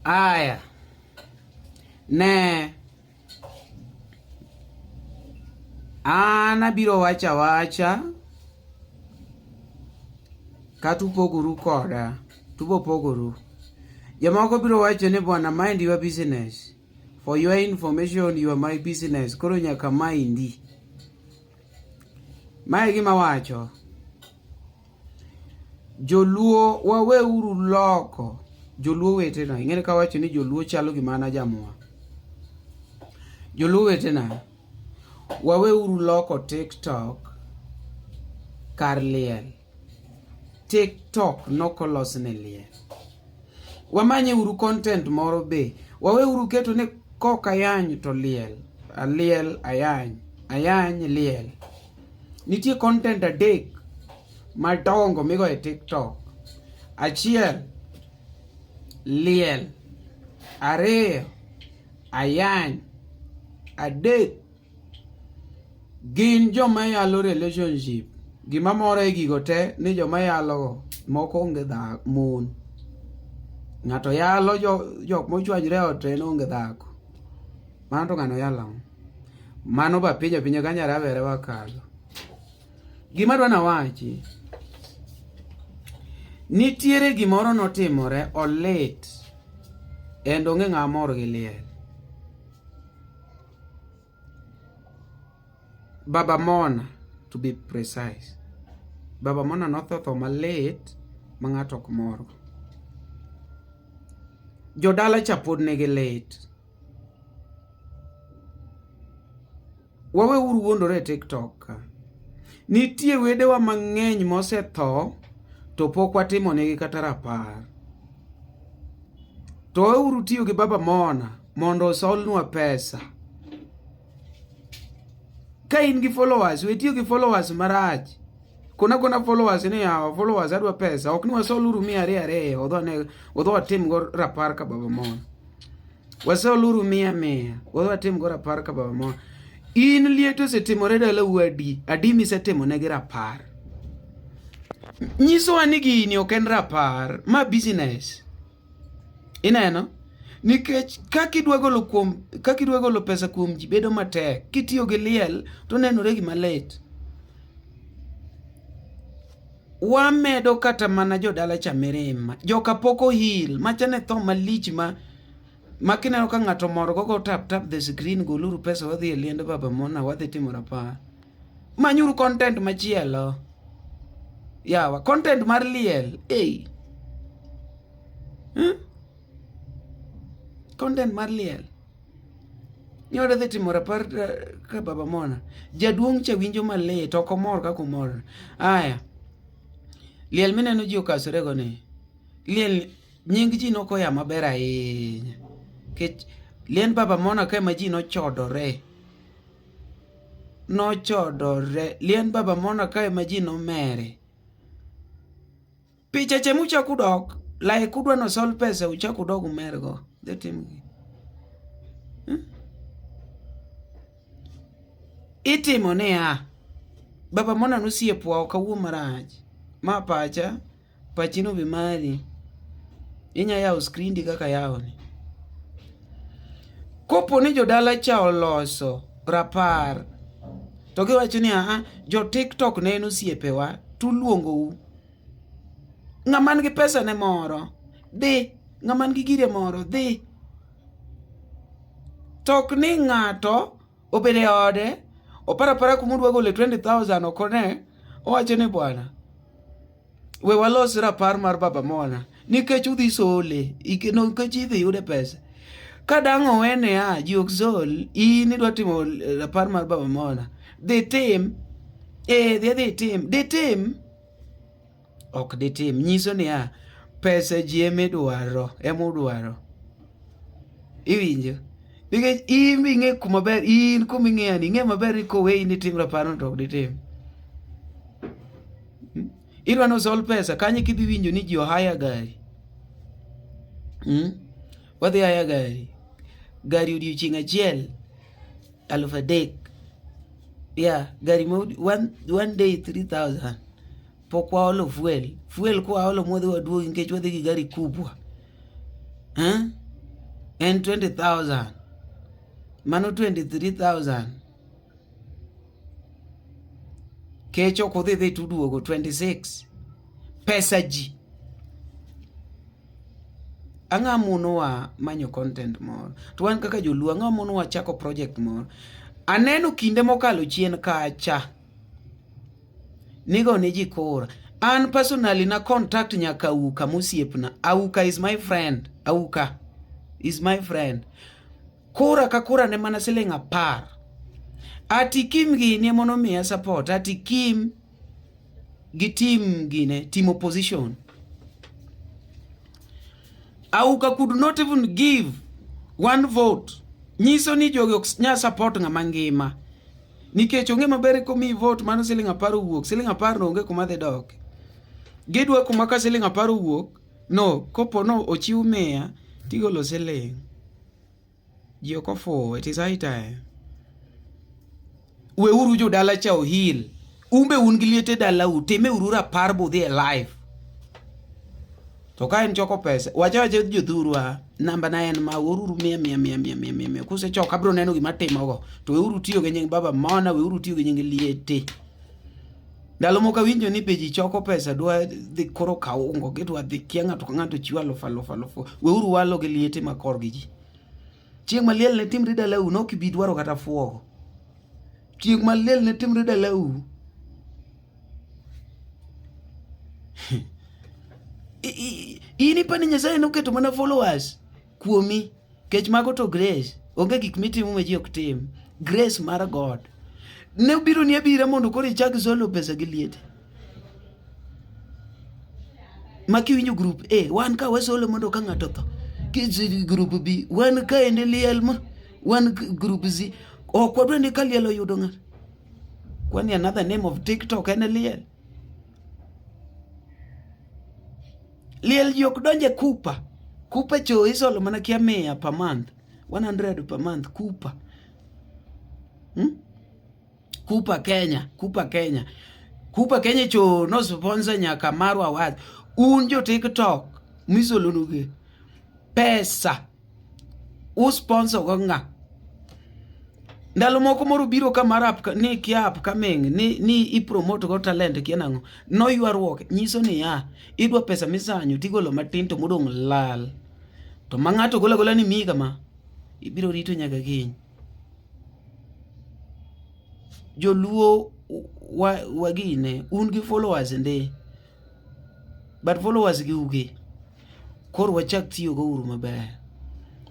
Aya, ne an abiro wacho awacha kata upogoru koda tubo pogoru. Jomoko biro wacho ni bwana, mind your business. For your information, you are my business. Koro nyaka mindi. Mae gima wacho. Joluo waweuru loko joluo wetena. Ing'eni ka wacho ni joluo chalo gi mana jamwa. Joluo wetena, waweuru loko TikTok kar liel. TikTok nokolos ne liel. Wamanye uru content moro be. Waweuru keto ni kok ayany to liel. Aliel ayany. Ayany liel. Nitie content adek madongo migo e TikTok. Achiel, liel. Ariyo, ayany. Adek, gin joma yalo relationship. Gima mora e gigo te ni joma yalogo moko onge dhako mon. Ng'ato yalo jok mochwanyre e ot to en onge dhako. Mano to ng'ano yalo ang'o? Mano ba pinyo pinyo kanya rabere wakalo. Gima dwa nawachi. Nitiere gimoro notimore olit. Endo ng'e ng'a mor gi liel. Baba Mona to be precise. Baba Mona notho tho malit ma ng'ato ok morgo. Jodala cha pod nigi lit. wawe uru wuondore e tiktok ka nitie wedewa mang'eny mosetho to pok watimo negi kata rapar to wawe uru tiyo gi baba mona mondo osolnwa pesa Ka in gi followers, we tiyo gi followers marach. Kona kona followers ni yawa, followers adwa pesa. Ok ni wasol uru mia ariyo ariyo, odho ne, odho watim go rapar ka baba mon. Wasol uru mia mia, odho watim go rapar ka baba mon. In liet osetimore dala wadi, adi misetimo ne gi rapar. Nyiso wa ni gini ok en rapar, ma business. Ineno? Nikech kaka idwa golo kuom kaka idwa golo pesa kuom ji bedo matek, kitiyo gi liel to nenore gima lit. Wamedo kata mana jodala cha mirima, joka pok ohil, macha ne tho malich ma ma kineno ka ng'ato mor go go tap tap the screen goluru pesa wadhi e liend baba mona wadhi timo rapar. manyuru content machielo yawa content mar liel ei hmm? content mar liel nyode dhi timo rapar eh, ka baba mona jaduong' cha winjo malit ok omor kaka omor aya liel mineno ji okasorego ni liel nying ji nokoya maber ahinya kech liend baba mona ka ema ji nochodore nochodore. Lien baba mona kae ma ji nomere. Picha che muchak udok, like udwa no sol pesa uchak udog umergo. Dhi timgi. Hmm? Itimo niya, baba mona nosiepwa okawuo marach. Ma pacha, pachi no be mari inya yawo skrindi kaka yawoni kopo ni jodala cha oloso rapar to giwacho ni aha jo tiktok ne en osiepewa tuluongou ng'aman gi pesa ne moro dhi ng'aman gi gire moro dhi tok ni ng'ato obed e ode opara para kuma odwa gole 20000 okone owacho ni bwana we walos rapar mar baba mona nikech udhi sole nikech idhi yude pesa ka dang' owene a ji ok sol in idwa timo eh, rapar mar baba mona dhi tim eh dhi dhi tim dhi tim ok ditim. Nyiso niya, pesa ji emidwaro, emudwaro. Iwinjo? Nikech in be ing'e kuma ber, in kuma ing'eyo ni ing'e maber ni koweyi ni tim raparno to ok ditim. Hmm? Idwa ni osol pesa, kanye kidhi winjo ni ji ohaya gari. Hmm? Wadhi haya gari. Gari odiochieng' achiel. alf a day yeah gari ma one, one day 3000 pok waolo fuel fuel kwa waolo mwadhi waduogi nikech wadhi gi gari kubwa eh? en 20000 mano 23000 kech ok udhi dhi tuduogo 26 pesa ji Ang'a monowa manyo content moro. To wan kaka joluo ang'a monowa chako project moro. Aneno kinde mokalo chien kacha. Nigo ne ji kora. An personally na contact nyaka Auka mosiepna. Auka is my friend. Auka is my friend. Kora ka kora ne mana siling apar. Ati Kim gini emonomiya support. Ati Kim. gi tim gine team opposition auka could not even give one vote nyiso ni jogi ok nya support ng'ama ngima nikech onge maber komi vote mano siling apar owuok siling apar no onge kuma dhi dok gidwa kuma ka siling apar owuok no kopo no ochiw miya tigolo siling Ji ok ofuwo, it is high time. Weuru jodala cha ohil. Umbe un gi liete dalau, timeuru rapar budhi e live. To ka en choko pesa, wacha wacha jodhuru a, namba na en ma oruru mia mia mia mia mia mia mia. Kuse choko abro neno gima timogo. To weuru tiyo gi nying Baba Mona, weuru tiyo gi nying Liete. Ndalo moko awinjo ni be ji choko pesa dwa dhi koro kaw ungo gi dwa dhi kia ng'ato ka ng'ato chiwo aluf aluf aluf. Weuru walo gi liete ma kor gi ji. Chieng' ma liel ne timre dalau ne ok ibi dwaro kata fuogo. Chieng' ma liel ne timre dalau ini pani Nyasaye noketo mana followers. kuomi kech mago to grace onge gik mitimo ma ji ok tim grace mar god ne obiro ni abira mondo koro ichak solo pesa gi liete ma kiwinjo group a wan ka wasolo mondo ka ng'ato tho group b wan ka ende liel ma wan group z ok wadwa ni ka liel oyudo ng'ato kwani another name of tiktok en liel Liel ji ok donje kupa. Kupa cho isolo mana kia mia per month. 100 per month kupa. Hmm? Kupa Kenya, kupa Kenya. Kupa Kenya cho no sponsor nyaka marwa wad. Un jo TikTok misolonuge pesa u sponsor go nga ndalo moko moro biro ka mar app ni kia app coming ni ni i promote go talent kia nango no ywaruok nyiso ni ya idwa pesa misanyo tigolo matin to modong lal to ma ng'ato gola gola ni mi kama ibiro rito nyaka kiny joluo wagine un gi followers ndi but followers gi uge Koro wachak tiyo go uru maber.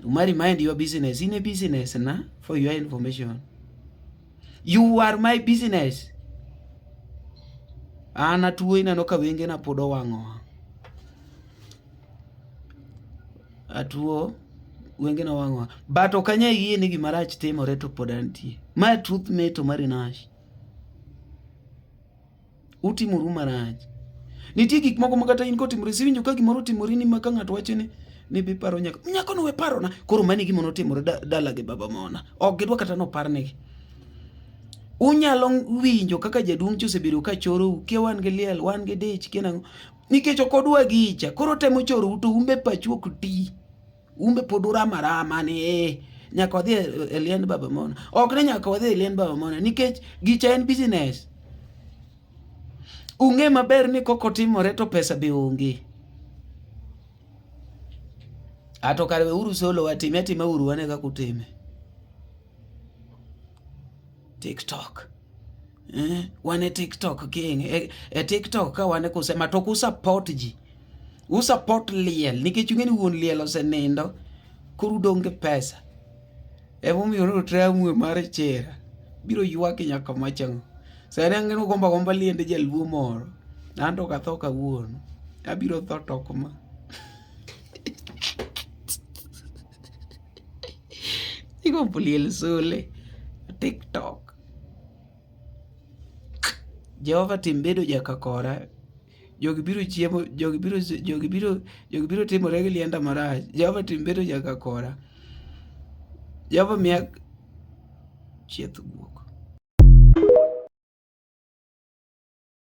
Uma remind your business in a business na for your information. You are my business. An atuo ineno ka wenge na pod owang'o. Atuo wenge na wang'o. But ok anya yie ni gima rach timore to pod antie. Ma truth me to marinash. Utimoru marach. Nitie gik moko ma kata in kotimore siwinjo ka gimoro otimore ni ma ka ng'ato wacho ni ni biparo nyako nyako no we parona koro mani gima notimore dala gi baba mona ok gidwa kata noparnegi unyalo winjo kaka jaduong' cha osebedo ka chorou kia wan gi liel wan gi dich kia nang'o nikech ok odwa gicha koro temo chorou to umbe pachu ok ti Umbe pod urama rama ni eh, nyaka wadhi e, e liend Baba Mona. Ok ni nyaka wadhi e liend Baba Mona nikech gicha en business. Ung'e maber ni koko timore to pesa be onge. Ato kare uru solo watime atime uru wane kaka utime. TikTok. eh, wan e TikTok king e, e TikTok ka wan e kusema to kusupport ji usupport liel nikech ung'eni wuon liel osenindo koro udong' gi pesa emomiyo notramwe mar chera biro ywak nyaka machang'o sani ang'en ugomba gomba liende jaluo moro nanto katho kawuono abiro tho tok ma igombo liel sole tiktok Jehova tim bedo jakakora jogi biro chiemo jogi biro jogi biro jogi biro timore gi lienda marach Jehova tim bedo jakakora Jehova miya chieth guok